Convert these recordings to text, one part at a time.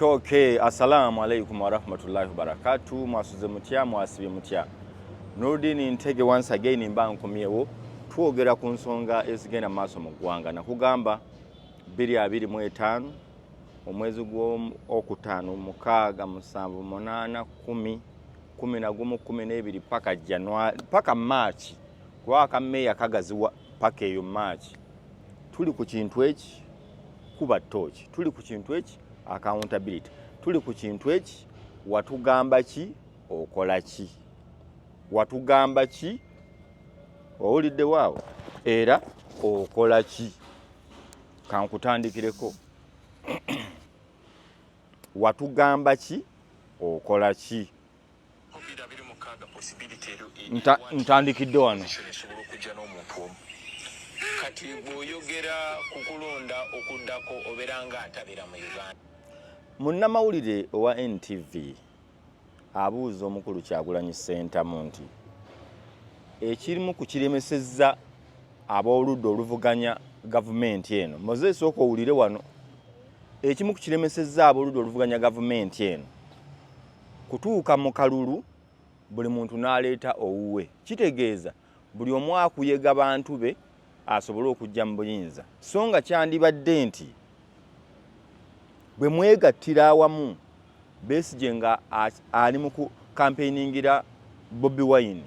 toke assalamu alaikum warahmatullahi wabarakatu mwasuze mutya mwasibye mutya nurdin ntege once again mba nkomyewo twogera ku nsonga ezigenda mu maaso mu ggwanga nakugamba 225 omwezi gwokutaano mukaaga musanvu munaana kumi kumi nagumu kumi n'ebiri paka januari paka march kuba akameeya kagaziwa paka eyo march tuli ku kintu eki kuba tooki tuli ku kintu eki accountability tuli ku kintu eki watugamba ki okola ki watugamba ki owulidde waawo era okola ki kankutandikireko watugamba ki okola ki ntandikidde wano kati bwoyogera ku kulonda okuddako obeera nga atabera mu uganda munnamawulire owa ntv abuuza omukulu kyagulanyi sentamu nti ekirimu ku kiremesezza ab'oludda oluvuganya gavumenti eno moses oka owulire wano ekimu ku kiremesezza ab'oludda oluvuganya gavumenti eno Kutuuka mu kalulu buli muntu n'aleeta owuwe kitegeeza buli omu akuyega bantu be asobole okujja mu buyinza so nga kyandibadde nti bwe mwegattira awamu Besigye nga ali mu kukampeiningira Bobi Wine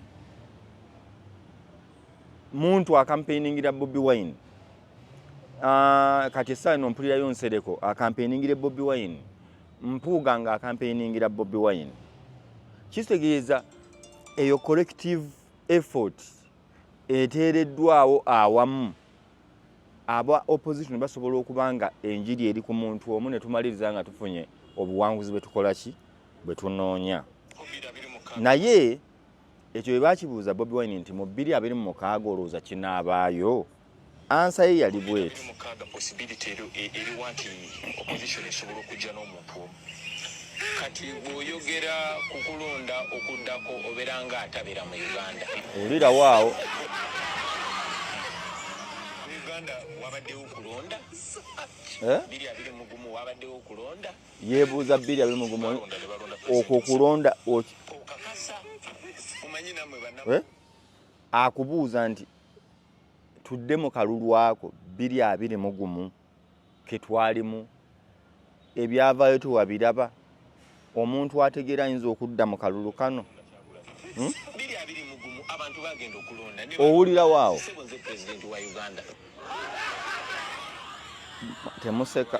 muntu akampeiningira Bobi Wine ah, kati essaawa eno mpulirayo Nsereko akampeiningire Bobi Wine Mpuuga nga akampeiningira Bobi Wine kitegeeza eyo collective effort eteereddwawo awamu aba opposition basobola okuba nga enjiri eri ku muntu omu ne tumaliriza nga tufunye obuwanguzi bwe tukola ki bwe tunoonya naye ekyo bwe bakibuuza bobi wine nti mu bbiri abiri mu mukaaga olowooza kinaabaayo Ansa ye yali bweti. Kati bwoyogera kukulonda okudako obera nga atabera mu Uganda. Ulira wao. Uganda wabadewo kulonda. Eh? Bili abili mugumu wabadewo kulonda. Yebuza bili abili mugumu. Okwo kulonda. Okakasa. Umanyina mwe banamu. Eh? Akubuza nti. tudde mu kalulu ako biri abiri mu gumu ke twalimu ebyavaayo tewabiraba omuntu ategeera ayinza okudda mu kalulu kano hmm? owulirawo awo temuseka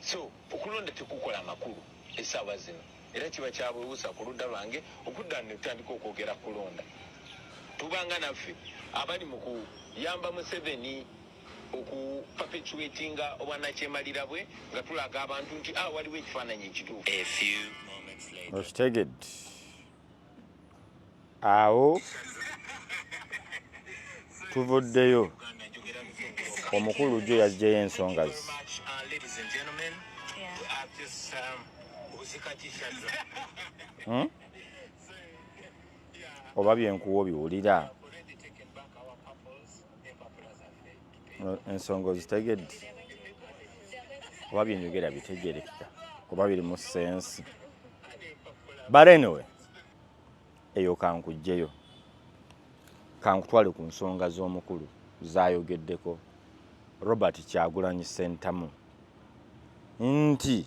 So okulonda tekukola makulu esaawa zino era kiba kyabwewusa ku ludda lwange okudda ne tutandika okwogera ku kulonda. Tubanga naffe abali mu kuyamba Museveni oku perpetuatinga obwannakyemalira bwe nga tulaga abantu nti, ah, waliwo ekifaananyi ekituufu. Okitegedde. awo tuvuddeyo omukulu jo yajjayo ensonga ze hmm? oba byenkuwa obiwulira ensonga ozitegedde oba byenyogera bitegerekeka oba biri mu sensi but anyway eyo kankujjeyo kankutwale ku nsonga z'omukulu zayogeddeko robert kyagulanyi sentamu nti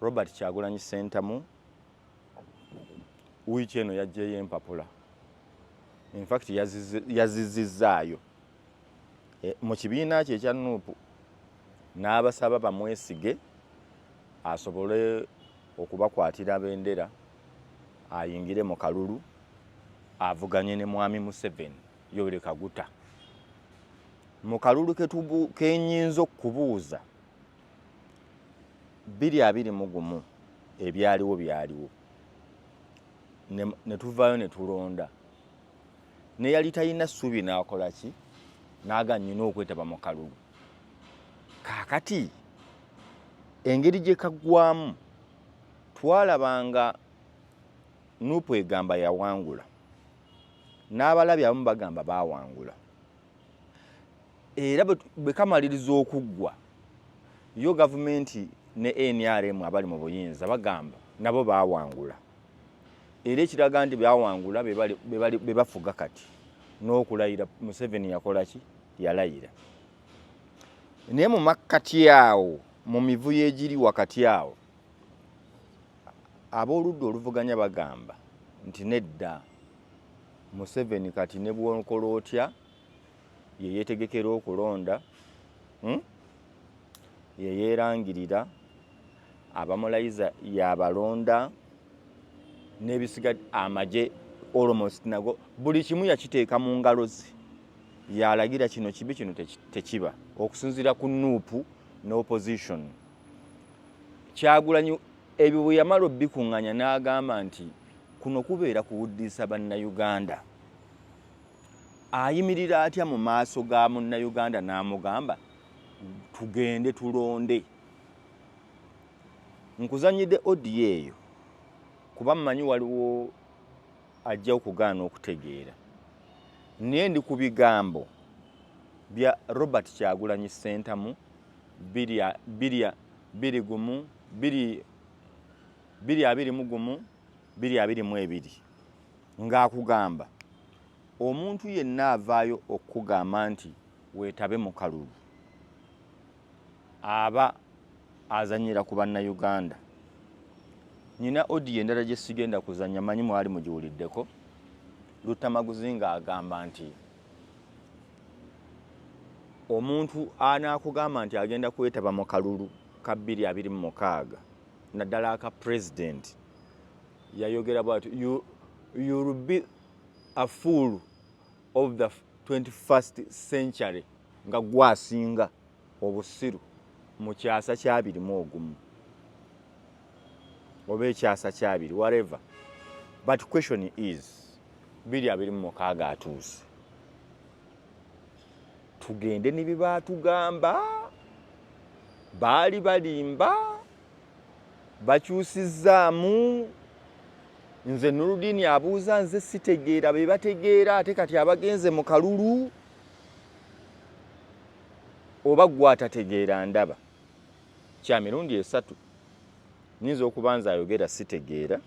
Robert Kyagulanyi Ssentamu wiiki eno yaggyeyo empapula infact yazizizzaayo e, mu kibiina kye ekya nuupu n'abasaba bamwesige asobole okubakwatira bendera ayingire mu kalulu avuganye ne mwami Museveni Yoweri Kaguta mu kalulu kenyinza okubuuza biri abiri mu gumu ebyaliwo byaliwo ne tuvaayo ne tulonda neyali talina ssuubi n'akola ki naaga nnyina okwetaba mu kalulu kaakati engeri gye kaggwamu twalaba nga nuupu egamba yawangula n'abalabi abamu bagamba baawangula era bwe kamaliriza okuggwa yo gavumenti ne nrm abali mu buyinza bagamba nabo bawangula era ekiraga nti bawangula be bafuga kati n'okulayira museveni yakola ki yalayira naye mu makkati awo mu mivuyo egiri wakati awo ab'oludda oluvuganya bagamba nti nedda Museveni kati ne bwokola otya yeyetegekera okulonda hmm? yeyerangirira abamulayiza yabalonda nebisiga amaje almost nago buli kimu yakiteeka mu ngalo ze yalagira kino kibi kino tekiba okusinzira ku nuupu ne opposition kyagulanyi Ebyo bwe yamala obikunganya n'agamba nti kuno kubeera kuwuddiisa Bannayuganda. Ayimirira atya mu maaso ga Munnayuganda n'amugamba tugende tulonde? Nkuzannyidde odiyo eyo kuba mmanyi waliwo ajja okugaana okutegeera. Naye ndi ku bigambo bya Robert Kyagulanyi Ssentamu biri biri biri gumu biri biri abiri mu gumu biri abiri mu ebiri ng'akugamba omuntu yenna avaayo okukugamba nti weetabe mu kalulu aba azanyira ku bannayuganda nina odiyo endala gye sigenda kuzanya manyi mwali mugiwuliddeko luttamaguzi ng'agamba nti omuntu anaakugamba nti agenda kwetaba mu kalulu ka 2026 naddala aka president yayogera bwati you'll be a fool of the 21st century nga gwasinga obusiru mu kyasa kyabiri mu ogumu oba ekyasa kyabiri whatever but question is biri abiri mu mukaaga atuuse tugende ne byebaatugamba baali balimba bakyusizzaamu nze nuludiini abuuza nze sitegeera be bategeera ate kati abagenze mu kalulu oba gwe atategeera ndaba kya mirundi esatu nyinza okuba nze ayogera sitegeera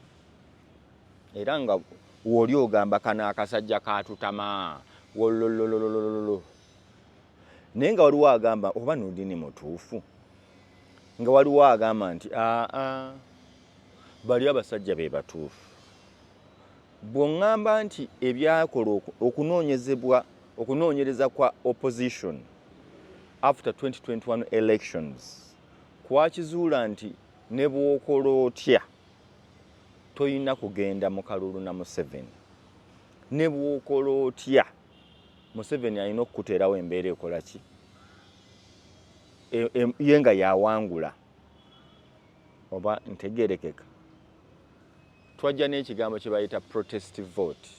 era nga wooli ogamba kano akasajja katutama wololololololo naye nga waliwo agamba oba nudini mutuufu nga waliwo agamba nti aa bali abasajja be batuufu Bw'oŋŋamba nti ebyakola okunoonyezebwa okunoonyereza kwa opposition after 2021 elections kwakizuula nti ne bw'okola otya tolina kugenda mu kalulu na Museveni ne bw'okola otya Museveni alina okukuteerawo embeera ekola ki e, e, ye nga yawangula oba ntegerekeka Twajja n'ekigambo kye bayita protest vote.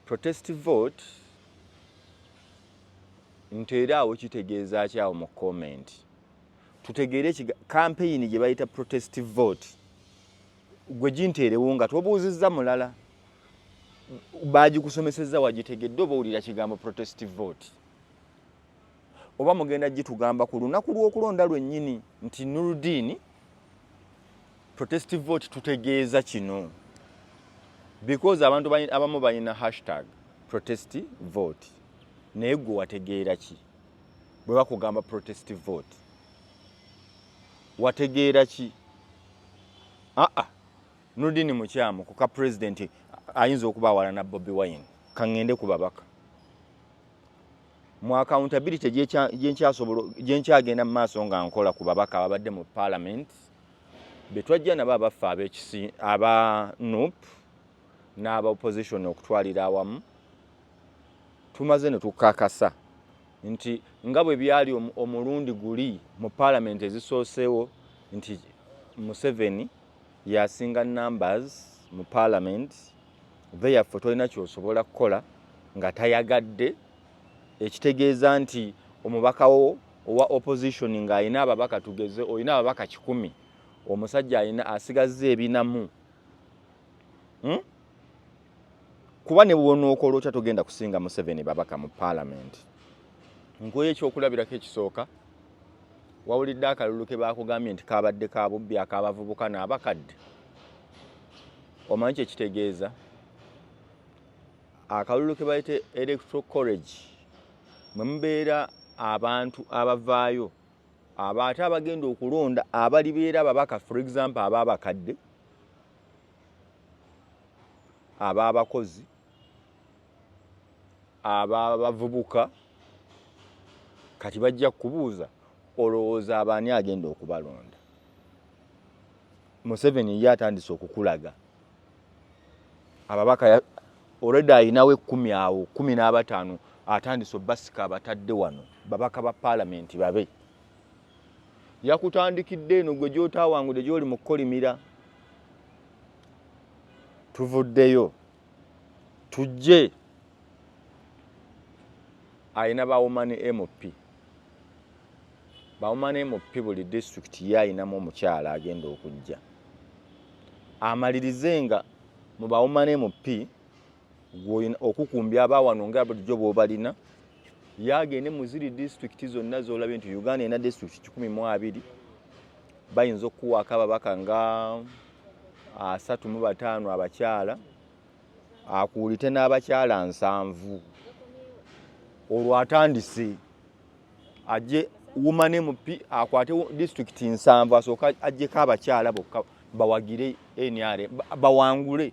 Protest vote nteeraawo kitegeeza ki awo mu comment tutegeere kampeyini gye bayita protest vote gwe ginteerewo nga tobuuzizza mulala baagikusomesezza wagitegedde oba owulira kigambo protest vote oba mugenda gitugamba ku lunaku lw'okulonda lwennyini nti nurudiini protestive vote tutegeeza kino because abantu abamu balina hashtag protest vote naye gwe wategeera ki bwe bakugamba protest vote wategeera ki aa ah, ah. nurudiini mukyamu kuka pulezidenti ayinza okuba awalana bobi wine kaŋŋende ku babaka mu accountability gyenkyagenda mu maaso nga nkola ku babaka ababadde mu parliament betwajja nabo abaffe abekisi aba nup n'aba opposition okutwalira awamu tumaze ne tukakasa nti nga bwe byali omulundi guli mu parliament ezisooseewo nti museveni yasinga numbers mu parliament therefore tolina kyosobola kukola nga tayagadde ekitegeeza nti omubakawo owa opposition nga alina ababaka tugeze olina ababaka kikumi omusajja alina asigazza ebinamu hmm? kuba ne bwonookola otya togenda kusinga museveni babaka mu paalamenti nkuwa ekyokulabirako ekisooka wawulidde akalulu ke baakugambye nti kaabadde ka bubbi ak'abavubuka n'abakadde omanyi kye kitegeeza akalulu ke bayita electro college mwe mubeera abantu abavaayo aba ate abagenda okulonda abalibeera ababaka for example aba abakadde ab'abakozi ab'abavubuka kati bajja kubuuza olowooza abaani agenda okubalonda museveni ye atandise okukulaga ababaka olwedde alinawo ekkumi awo kumi n'abataano atandise obasika abatadde wano babaka ba paalamenti babe yakutandikidde eno gwe gyotaawangude gyoli mu kukolimira tuvuddeyo tujje alina bawomani mp bawomani mp buli disitulikiti ye alinamu omukyala agenda okujja amalirize nga mu bawomani mp gwoyina okukumbya abawano nga bulijjo bwobalina yagende muziri disitulikiti zonna zolabye nti uganda ena disitulikiti kikumi mu abiri bayinza okukuwaako ababaka nga asatu mu bataano abakyala akuulite n'abakyala nsanvu olwo atandise aje woman mp akwate disitulikiti nsanvu asooka ajjeko abakyala bokka bawagire nr bawangule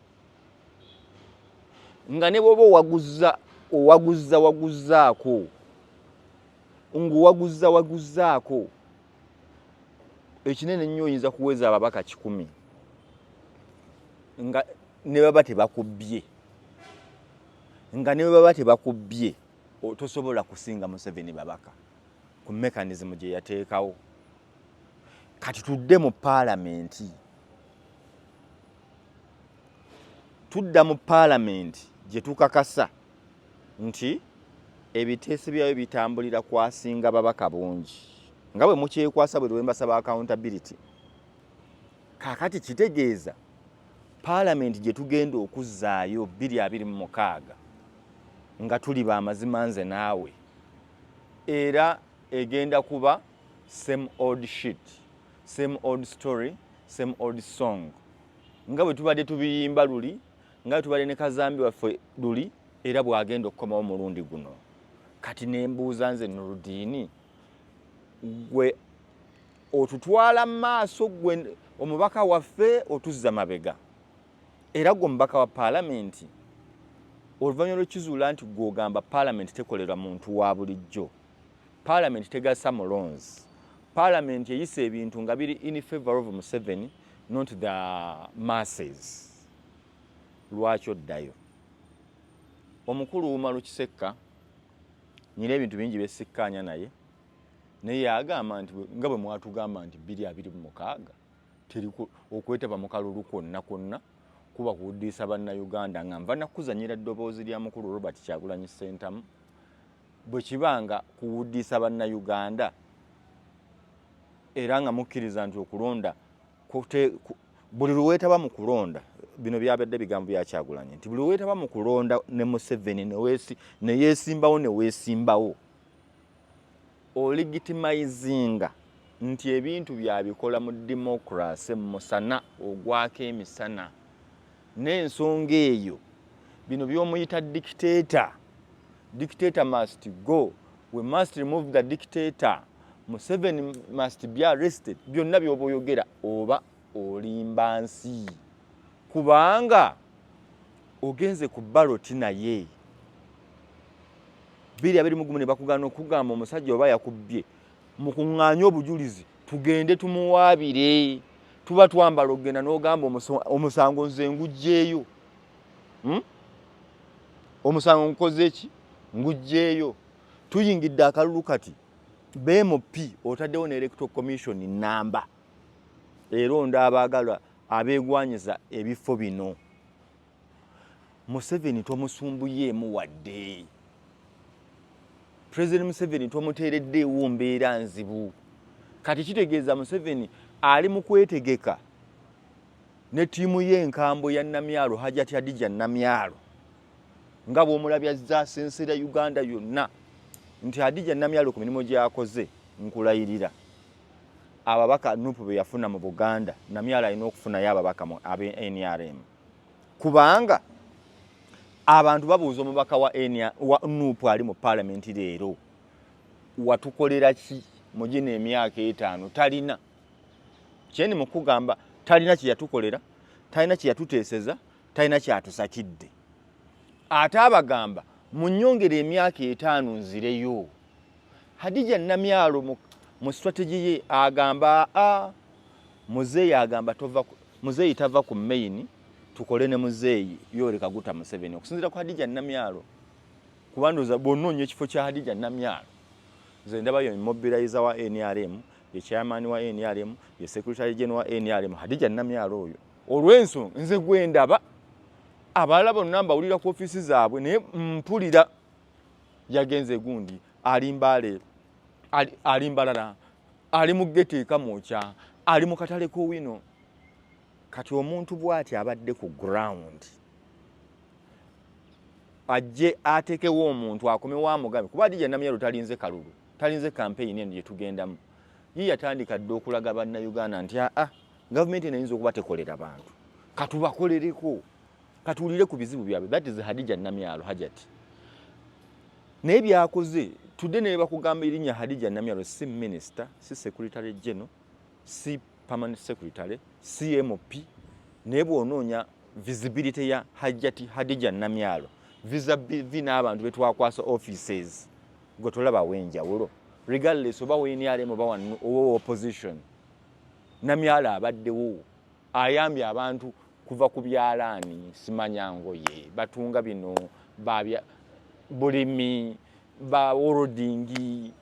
nga ne bwoba owaguzza owaguzza waguzzaako ng'owaguzza waguzzaako ekinene ennyo oyinza kuweza ababaka kikumi nga ne baba tebakubbye nga ne baba tebakubbye tosobola kusinga museveni babaka ku mekanizimu gye yateekawo kati tudde mu paalamenti tudda mu paalamenti gye tukakasa nti ebiteeso byayo bitambulira kwasinga babaka bungi nga bwe mukyekwasa bwe lwembasaba accountability kakati kitegeeza paalamenti gye tugenda okuzzaayo bbiri abiri mu mukaaga nga tuli ba mazima nze naawe era egenda kuba same old shit same old story same old song nga bwe tubadde tubiyimba luli nga bwe tubadde ne kazambi waffe luli era bw'agenda okukomawo omulundi guno kati ne mbuuza nze nurudiini gwe otutwala mu maaso gwe omubaka waffe otuzza mabega era gwe omubaka wa paalamenti oluvannyuma lw'ekizuula nti gw'ogamba paalamenti tekolera muntu wa bulijjo Parliament tegasa mulonzi. Parliament eyise ebintu nga biri in favor of Museveni not the masses. Lwaki oddayo? Omukulu Umaru Kisekka nyina ebintu bingi besikkaanya naye naye agamba nti nga bwe mwatugamba nti biri abiri mu mukaaga teri okwetaba mu kalulu kwonna kwonna kuba kuwuddiisa bannayuganda nga nva nakuzanyira ddoboozi lya mukulu robert kyagulanyi ssentamu bwe kiba nga kuwuddiisa bannayuganda era nga mukkiriza nti okulonda buli lweweetaba mu kulonda bino byabadde bigambo byakyagulanyi nti buli lweweetaba mu kulonda ne museveni neyeesimbawo neweesimbawo oligitimayizinga nti ebintu byabikola mu dimokirase musana ogwako emisana n'ensonga eyo bino by'omuyita dictator dictator must go we must remove the dictator museveni must be arrested byonna byoba oyogera oba olimba nsi kubanga ogenze ku baloti naye biri abiri mugumu ne bakugana okugamba omusajja oba yakubbye mukuŋŋaanye obujulizi tugende tumuwaabire tuba twambala okugenda n'ogamba omusango nze ngugyeeyo hmm? omusango ngukoze eki ngugyeeyo tuyingidde akalulu kati bmp otaddewo ne electro commission namba eronda abaagala abeegwanyiza ebifo bino museveni tomusumbuyeemu wadde president museveni tomuteereddeewo mbeera nzibu kati kitegeeza museveni ali mu kwetegeka ne ttiimu y'enkambwe ya namyalo hajati adija namyalo nga bw'omulabi azza asensera uganda yonna nti adija namyalo ku mirimu gy'akoze nkulayirira ababaka nupu be yafuna mu buganda namyalo alina okufunayo ababaka mu ab nrm kubanga abantu babuuza omubaka wa enia wa nup ali mu palamenti leero watukolera ki mugina emyaka etaano talina kyendi mukugamba talina kyeyatukolera talina kyeyatuteeseza talina kyatusakidde ate abagamba munyongera emyaka etaano nzireyo hadija namyalo mu strategy ye agamba a ah, Muzeeyi agamba tova muzeeyi tava ku main tukole ne muzeeyi Yoweri Kaguta Museveni okusinzira ku Hadija Namyalo kuba ndowooza bw'onoonya ekifo kya Hadija Namyalo nze ndaba ye mobilizer wa NRM ye chairman wa NRM ye secretary general wa NRM Hadija Namyalo oyo olw'ensonga nze gwe ndaba abalala bonna mbawulira ku ofiisi zaabwe naye mpulira yagenze gundi alimbaale alimbalala ali mu geto ekamwokya ali mu katale k'owino kati omuntu bwati abadde ku ground ajje atekewo omuntu akomewo amugabe kuba dija namyalo talinze kalulu talinze kampeyini eno gyetugendamu ye yatandika dde okulaga bannayuganda nti aa ah, ah, gavumenti eno eyinza okuba tekolera bantu katubakolereko katuwulire ku bizibu byabwe that is hadija namyalo hajati naye byakoze tudde naye bakugamba erinnya hadija namyalo si minisita si sekuritale geno si permanent secretary cmp naye bwonoonya visibility ya hajati hadija namyalo visabv n'abantu betwakwasa offices gwe tolabawo enjawulo regardless oba wenrm oba owa opposition namyalo abaddewo ayambye abantu kuva ku byalaani simanya ngoye batunga bino babya bulimi baworodingi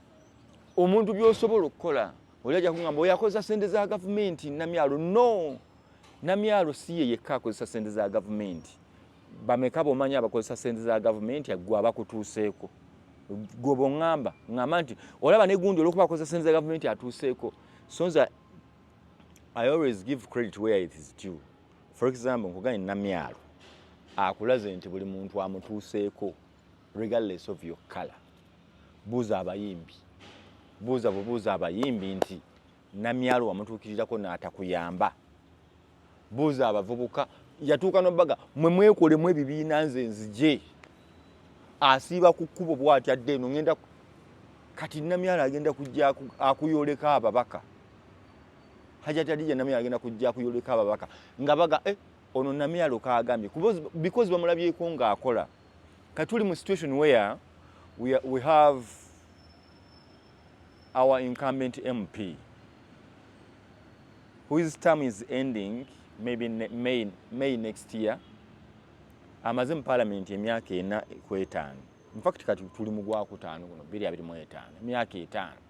omuntu byosobola okukola oli ajja kugamba oyakozesa sente za gavumenti namyalo no namyalo si ye yekka akozesa sente za gavumenti bameka bomanya abakozesa sente za gavumenti agwe abakutuuseeko gwoba oŋamba ŋamba nti olaba negundi olwokuba akozesa sente za gavumenti atuuseeko sonza I always give credit where it is due. For example, nkugane namyalo akulaze nti buli muntu amutuuseeko regardless of your color. Buuza abayimbi, buuza bubuuza abayimbi nti namyalo wamutuukirirako n'atakuyamba. Buuza abavubuka yatuuka nobaga mwe mwekolemu ebibiina nze nzije asiiba ku kkubo bw'atyadde eno ngenda kati namyalo agenda kujja akuyoleka ababaka. hajati adija namye agenda kujja kuyoleka ababaka nga baga eh, ono namye aloka agambye because bamulabyeko nga akola katuli mu situation where we, are, we have our incumbent mp whose term is ending maybe ne, may, may next year amaze mu palamenti emyaka ena kwetaano infact kati tuli mu gwakutaano guno biri abiri mu etaano emyaka etaano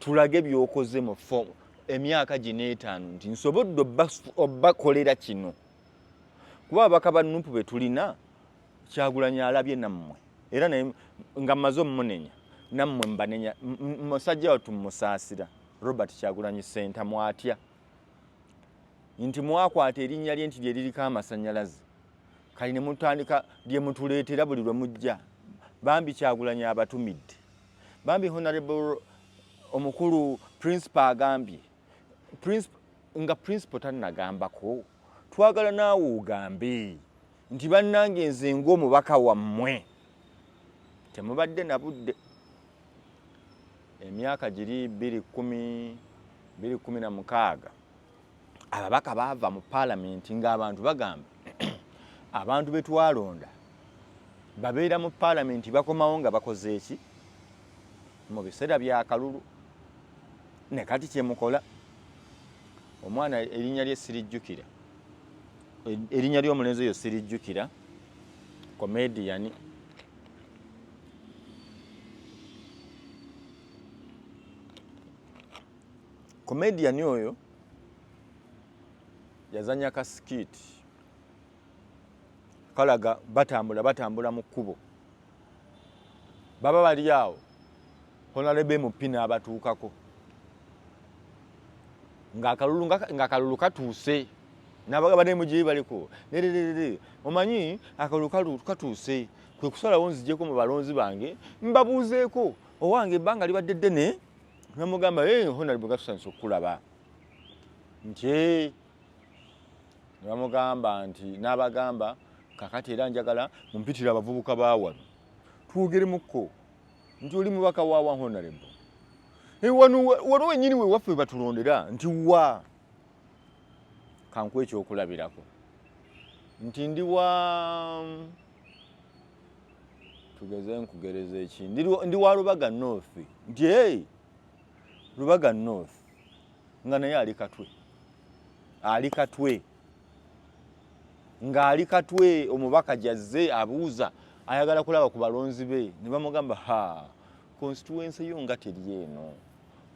tulage byokoze mu fomu emyaka gino etaano nti nsobodde obakolera kino kuba ababaka ba nupu be tulina kyagulanyi alabye nammwe era naye nga mmaze omumunenya nammwe mbanenya musajja wattu mumusaasira robert kyagulanyi senta mwatya nti mwakwata erinnya lye nti lye liriko amasannyalaze kali ne mutandika lye mutuleetera buli lwe mujja bambi kyagulanyi abatumidde Bambi honorable omukulu principal agambye principal nga principal tanagambako twagala naawe ogambe nti bannange nze ng'omubaka wammwe temubadde na budde emyaka giri 2 1 2 na mukaaga ababaka baava mu palamenti ng'abantu bagamba abantu be twalonda babeera mu palamenti bakomawo nga bakoze eki mu biseera bya kalulu ne kati kye mukola omwana erinnya lye sirijjukira erinnya ly'omulenzi oyo sirijjukira komediyani Comedian oyo yazanya ka skit kalaga batambula batambula mu kkubo baba bali awo honalebe mupi n'abatuukako ng'akalulu ng'akalulu katuuse n'abagaba ne mujeyi baliko nererere omanyi akalulu katuuse kwe kusalawo nzijeko mu balonzi bange mbabuuzeeko owange ebbanga libadde ddene namugamba hey, honalibwe gatusanisa okukulaba nti nebamugamba nti n'abagamba kakati era njagala mumpitire abavubuka bawano twogeremukko nti oli mubaka wawa honalibwe eh, wano wano wenyini wewaffe webatulondera nti wa kanku ekyokulabirako nti ndi wa tugeze nkugereza eki ndi wa lubaga north nti hey, lubaga north nga naye ali katwe ali katwe ng'ali katwe omubaka gyazze abuuza ayagala kulaba ku balonzi be ne bamugamba ha konsituwensi yo nga teri eno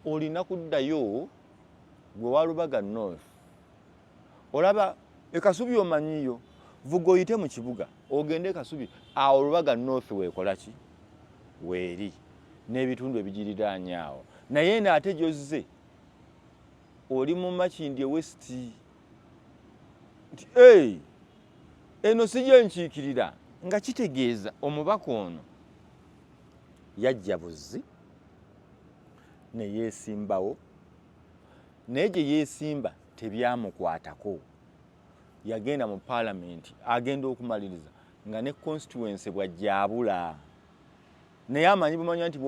olina kuddayo gwe walubaga north Olaba e Kasubi omanyiyo, vuga oyite mu kibuga ogende e Kasubi. Awo Lubaga North weekola ki? Weeri n'ebitundu ebigiriraanye awo. Naye eno ate gy'ozze oli mu Makindye West nti ee eno si gye nkiikirira. Nga kitegeeza omubaka ono yajja buzzi ne yeesimbawo naye gye yeesimba tebyamukwatako yagenda mu paalamenti agenda okumaliriza nga ne constituency bwajjabula naye amanyi bumanya nti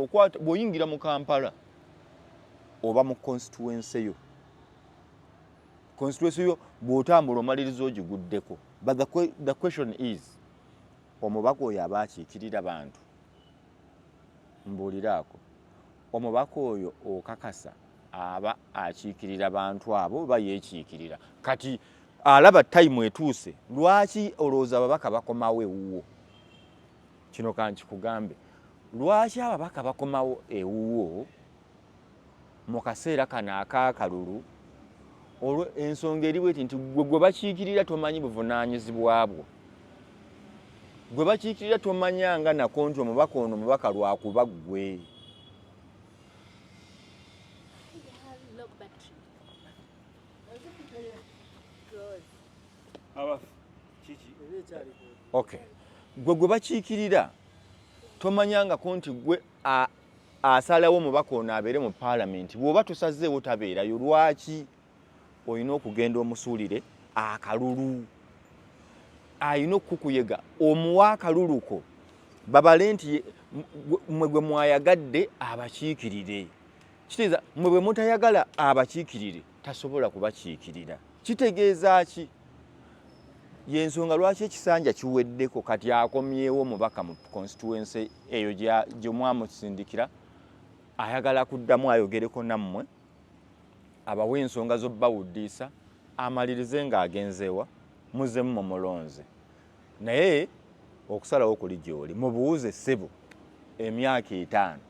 bwoyingira mu kampala oba mu constituency yo constituency yo bwotambula omaliriza ogiguddeko but the, the question is omubaka oyo aba akiikirira bantu mbuuliraako omubaka oyo okakasa aba akiikirira bantu abo oba yeekiikirira kati alaba tayimu etuuse lwaki olowooza ababaka bakomawo ewuwo kino kankikugambe lwaki ababaka bakomawo ewuwo mu kaseera kano akaakalulu olwo ensonga eri bweti nti gwe gwe bakiikirira tomanyi buvunaanyizibwa bwo gwe bakiikirira tomanyanga nako nti omubaka ono mubaka lwakuba ggwe okay gwe gwe bakiikirira tomanyangako nti gwe asalawo omubaka ono abeere mu paalamenti bw'oba tosazeewo tabeerayo lwaki olina okugenda omusuulire akalulu alina okukuyega omuwa akaluluko babale nti mwe gwe mwayagadde abakiikirire kitegeeza mwe bwe mutayagala abakiikirire tasobola kubakiikirira kitegeeza ki yensonga lwaki ekisanja kiweddeko kati akomyewo mubaka mu constituency eyo gyomwamusindikira ayagala kuddamu ayogereko nammwe abawe ensonga z'obbawuddiisa amalirize ng'agenzeewa muzzemu mumulonze naye okusalawo kuli gy'oli mubuuze ssebo emyaka etaano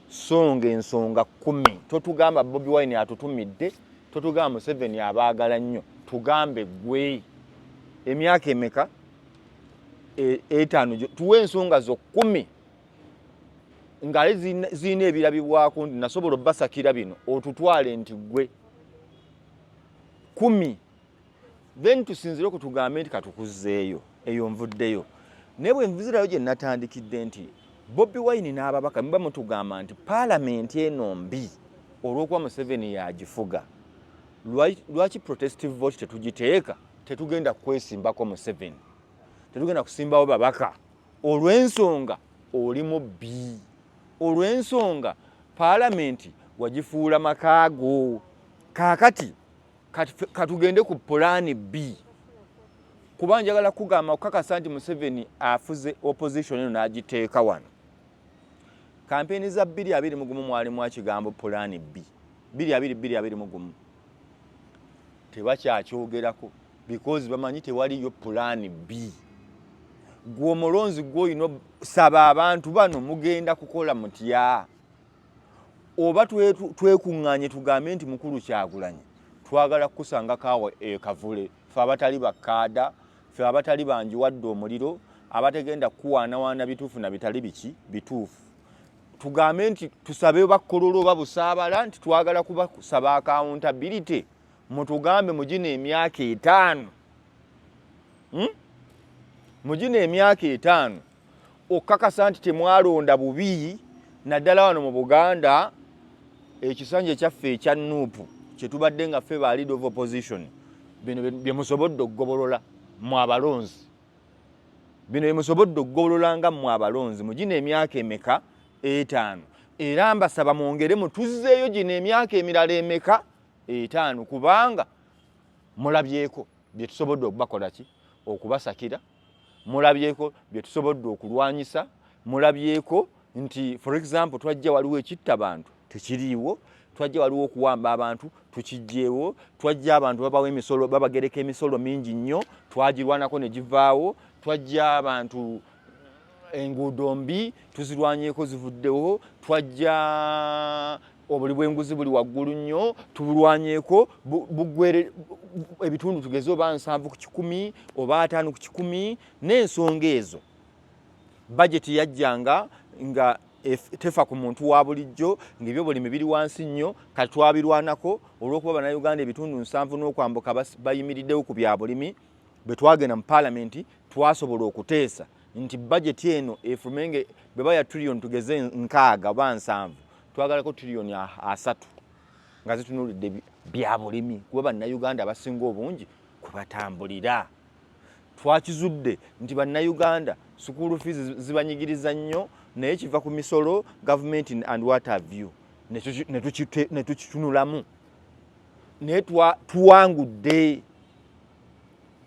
songa ensonga kumi totugamba bobi wine atutumidde totugamba museveni abaagala nnyo tugambe gwe emyaka emeka e, etaano tuwe ensonga zo kumi ng'ali zirina ebirabibwako nti nasobola obbasakira bino otutwale nti ggwe kumi then tusinzire oku tugambe nti katukuzzeeyo eyo nvuddeyo naye bwe nvuzirayo gye natandikidde nti bobi wine n'ababaka muba mutugamba nti paalamenti eno mbi olw'okuba museveni yagifuga lwaki protestive vote tetugiteeka tetugenda kwesimbako museveni tetugenda kusimbawo babaka Olw'ensonga oli mubbi. Olw'ensonga Palamenti wagifuula maka go. Kaakati ka tugende ku pulaani bbi. Kuba njagala kukugamba okukakasa nti Museveni afuze opposition eno n'agiteeka wano. Kampeyini za bbiri abiri mu gumu mwalimu ekigambo pulaani bbi. Bbiri abiri bbiri abiri mu gumu. Tebakyakyogerako. because bamanyi tewaliyo pulaani bii gwe omulonzi gwoyina saba abantu bano mugenda kukola mutya oba twekuŋŋanye tugambe nti mukulu kyagulanyi twagala kukusanga kaawa ekavule fe abatali bakkaada fe abatali banjiwadde omuliro abategenda kukuwaanawaana bituufu na bitali biki bituufu tugambe nti tusabe bakkololo oba busaabala nti twagala kubasaba akawuntabirite mutugambe mugino emyaka etaano hmm? mugino emyaka etaano okukakasa nti temwalonda bubi naddala wano mu buganda ekisanja ekyaffe ekya nuupu kyetubadde nga ffe ba lead of opposition bino byemusobodde okugobolola mu abalonzi bino byemusobodde okugobolola nga mu abalonzi mugino emyaka emeka etaano era mbasaba mwongere mutuzzeeyo gino emyaka emirala emeka etaano kubanga mulabyeko bye tusobodde okubakola ki okubasakira mulabyeko bye tusobodde okulwanyisa mulabyeko nti for example twajja waliwo ekitta bantu tekiriiwo twajja waliwo okuwamba abantu tukijjeewo twajja abantu babawo emisolo babagereka emisolo mingi nnyo twagirwanako ne givaawo twajja abantu enguudo mbi tuzirwanyeko zivuddewo twajja obuli bwenguzi buli waggulu nnyo tubulwanyeko bugwere ebitundu tugeze oba nsanvu ku kikumi oba ataano ku kikumi n'ensonga ezo bajeti yajjanga nga tefa ku muntu wa bulijjo ng'ebyobulimi biri wansi nnyo kati twabirwanako olw'okuba bannayuganda ebitundu nsanvu n'okwambuka bayimiriddewo ku bya bulimi bwe twagenda mu paalamenti twasobola okuteesa nti bajeti eno efume nga bweba ya trillion tugeze nkaaga oba nsanvu twagalako trillion asatu nga zitunulidde bya bulimi kuba bannayuganda abasinga obungi kwe batambulira twakizudde nti bannayuganda sukuulu fiizi zibanyigiriza nnyo naye kiva ku misolo gavumenti and water view ne tukitunulamu naye tuwangudde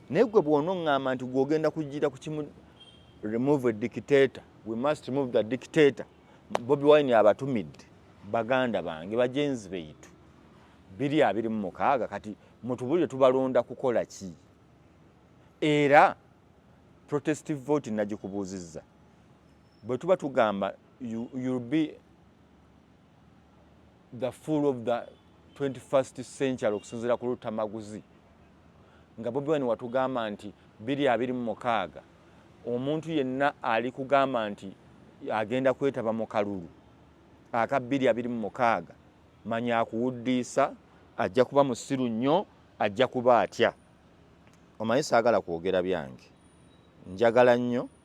naye gwe bwonoŋŋamba nti gwogenda kujjira ku kimu remove dictator we must remove the dictator bobi wine abatumidde baganda bange bajenzi beitu biri abiri mu mukaaga kati mutubulire tubalonda kukola ki era protest vote nagikubuuzizza bwe tuba tugamba you, you'll be the full of the 21st century okusinzira ku lutamaguzi nga bobi wine watugamba nti biri abiri mu mukaaga omuntu yenna ali kugamba nti agenda kwetaba mu kalulu aka biri abiri mu mukaaga manya akuwuddiisa ajja kuba musiru nnyo ajja kuba atya omanyi saagala kwogera byange njagala nnyo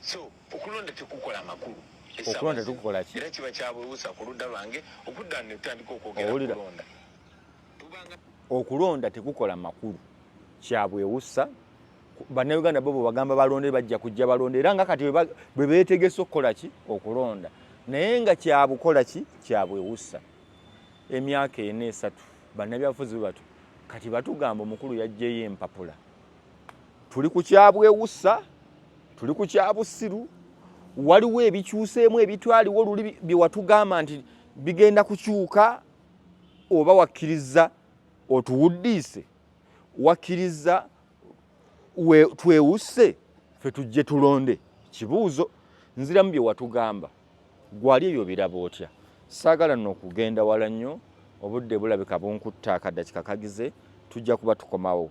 So okulonda tekukola makulu. Okulonda tukukola ki? Era kiba kyabwewusa ku ludda lwange okudda ne tutandika okwogera okulonda. Okulonda tekukola makulu. Kyabwewusa bannayuganda bo bwebagamba balonde bajja kujja balonde era nga kati bwe beetegese okukola ki okulonda naye nga kyabukola ki kyabwewussa emyaka ena esatu bannabyabufuzi bwe batu kati batugamba omukulu yajjeyo empapula tuli ku kyabwewusa tuli ku kyabusiru waliwo ebikyuseemu ebitwaliwo luli byewatugamba nti bigenda kukyuka oba wakkiriza otuwuddiise wakkiriza twewusse fe tujje tulonde kibuuzo nziramu bye watugamba gwali ebyo biraba otya saagala no okugenda wala nnyo obudde bulabika bunkutta akadda kikakagize tujja kuba tukomawo